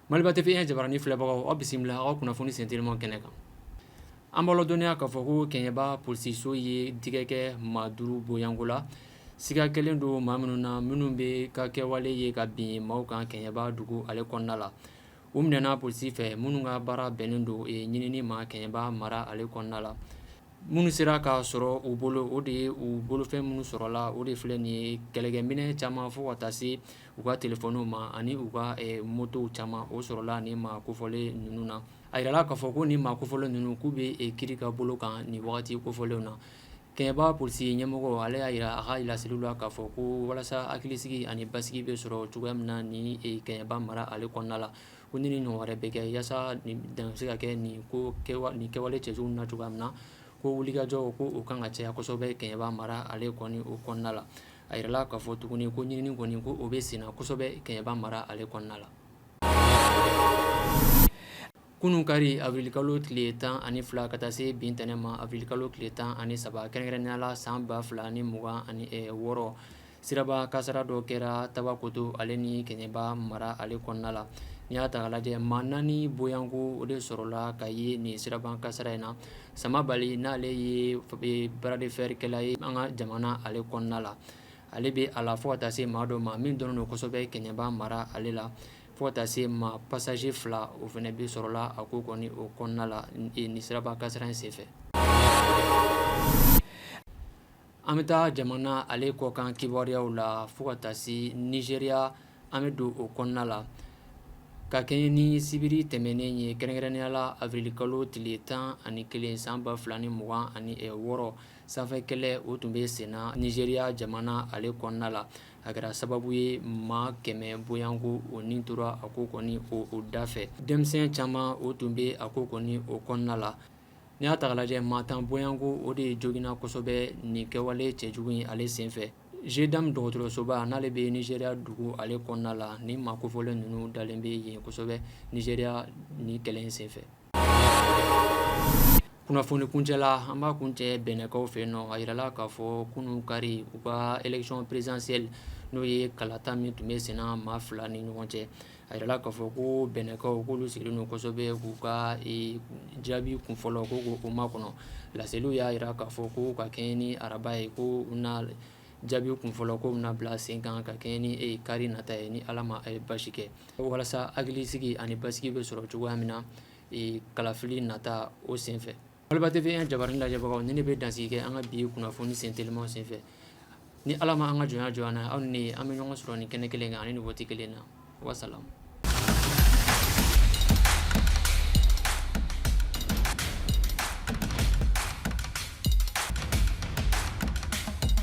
Maliba TV jabaranin filɛbagaw aw bisimila aw ka kunnafoni sentelima kɛnɛ kan an b'aw ladɔnniya k'a fɔ ko kɛɲɛba polisiso ye tigɛ kɛ maa duuru boyanko la siga kɛlen don maa minnu na minnu bɛ ka kɛwale ye ka bin maaw kan kɛɲɛba dugu ale kɔnɔna la u minɛna polisi fɛ minnu ka baara bɛnnen don ɲinini ma kɛɲɛba mara ale kɔnɔna la Minnu sera k'a sɔrɔ u bolo o de ye u bolofɛn minnu sɔrɔla o de filɛ nin ye kɛlɛkɛminɛ caman fo ka taa se u ka telefɔni ma ani u ka motow caman o sɔrɔla nin maa kofɔlen ninnu na a yirala k'a fɔ ko nin maa kofɔlen ninnu k'u bɛ kiri ka bolo kan nin wagati kofɔlenw na kɛɲɛba polisi ɲɛmɔgɔ ale y'a yira a ka laseliw la k'a fɔ ko walasa hakilisigi ani basigi bɛ sɔrɔ cogoya min na ni kɛɲɛba mara ale kɔnɔna la ko ɲinini ɲɔgɔn wɛrɛ bɛ kɛ yaasa dan bɛ se ka kɛ nin kɛwale cɛjugu na cogoya min na ko wulikajɔ ko o kan ka caya kosɛbɛ kɛɲɛba mara ale kɔni o kɔnɔna la a yirala k'a fɔ tuguni ko ɲinini kɔni ko o bɛ senna kosɛbɛ kɛɲɛba mara ale kɔnɔna la kunun kari awirili kalo tile tan ani fila ka taa se bi ntɛnɛn ma awirili kalo tile tan ani saba kɛrɛnkɛrɛnnenya la san ba fila ni mugan ani wɔɔrɔ siraba kasara dɔ kɛra tabakoto ale ni kɛɲɛba mara ale kɔnɔna la n'i y'a ta k'a lajɛ maa naani boyanko o de sɔrɔla ka ye nin siraba kasara in na sama bali n'ale ye bras de fer kɛla ye an ka jamana ale kɔnɔna la ale bɛ a la fo ka taa se maa dɔ ma min dɔn kosɛbɛ kɛɲɛba mara ale la fo ka taa se maa passager fila o fana bɛ sɔrɔla a ko kɔni o kɔnɔna la nin siraba kasara in senfɛ An bɛ taa jamana ale kɔkan kibaruyaw la fo ka taa se nizeriya an bɛ don o kɔnɔna la ka kɛɲɛ ni sibiri tɛmɛnen ye kɛrɛnkɛrɛnnenya la awirili kalo tile tan ani kelen san ba fila ni mugan ani wɔɔrɔ sanfɛ kɛlɛ o tun bɛ senna nizeriya jamana ale kɔnɔna la a kɛra sababu ye maa kɛmɛ boyanko o ni tora a ko kɔni o o da fɛ denmisɛn caman o tun bɛ a ko kɔni o kɔnɔna la N'i y'a ta k'a lajɛ maa tan boyanko o de joginna kosɛbɛ nin kɛwale cɛjugu in ale senfɛ Geidam dɔgɔtɔrɔsoba n'ale bɛ nizeriya dugu ale kɔnɔna la ni maa kofɔlen ninnu dalen bɛ yen kosɛbɛ nizeriya nin kɛlɛ in senfɛ kunnafoni kuncɛla an b'a kuncɛ bɛnɛnkaw fɛ yen nɔ a yirala k'a fɔ kunun kari u ka élection présidentielle n'o ye kalata min tun bɛ senna maa fila ni ɲɔgɔn cɛ a yirala k'a fɔ ko bɛnɛnkaw k'olu sigilen don kosɛbɛ k'u ka jaabi kunfɔlɔ ko k'o makɔnɔ laseliw y'a yira k'a fɔ ko ka kɛɲɛ ni araba ye ko jaabiw kunfɔlɔ ko bɛna bila sen kan ka kɛɲɛ ni kari nata ye ni ala ma basi kɛ walasa hakilisigi ani basigi bɛ sɔrɔ cogoya min na kalafili nata o senfɛ Maliba TV jabaranin lajɛbagaw ni ne bɛ dansigi kɛ an ka bi kunnafoni sen telimanw senfɛ ni ala ma an ka jɔnya jɔ an na aw ni an bɛ ɲɔgɔn sɔrɔ nin kɛnɛ kelen kan ani nin waati kelen na wasalamu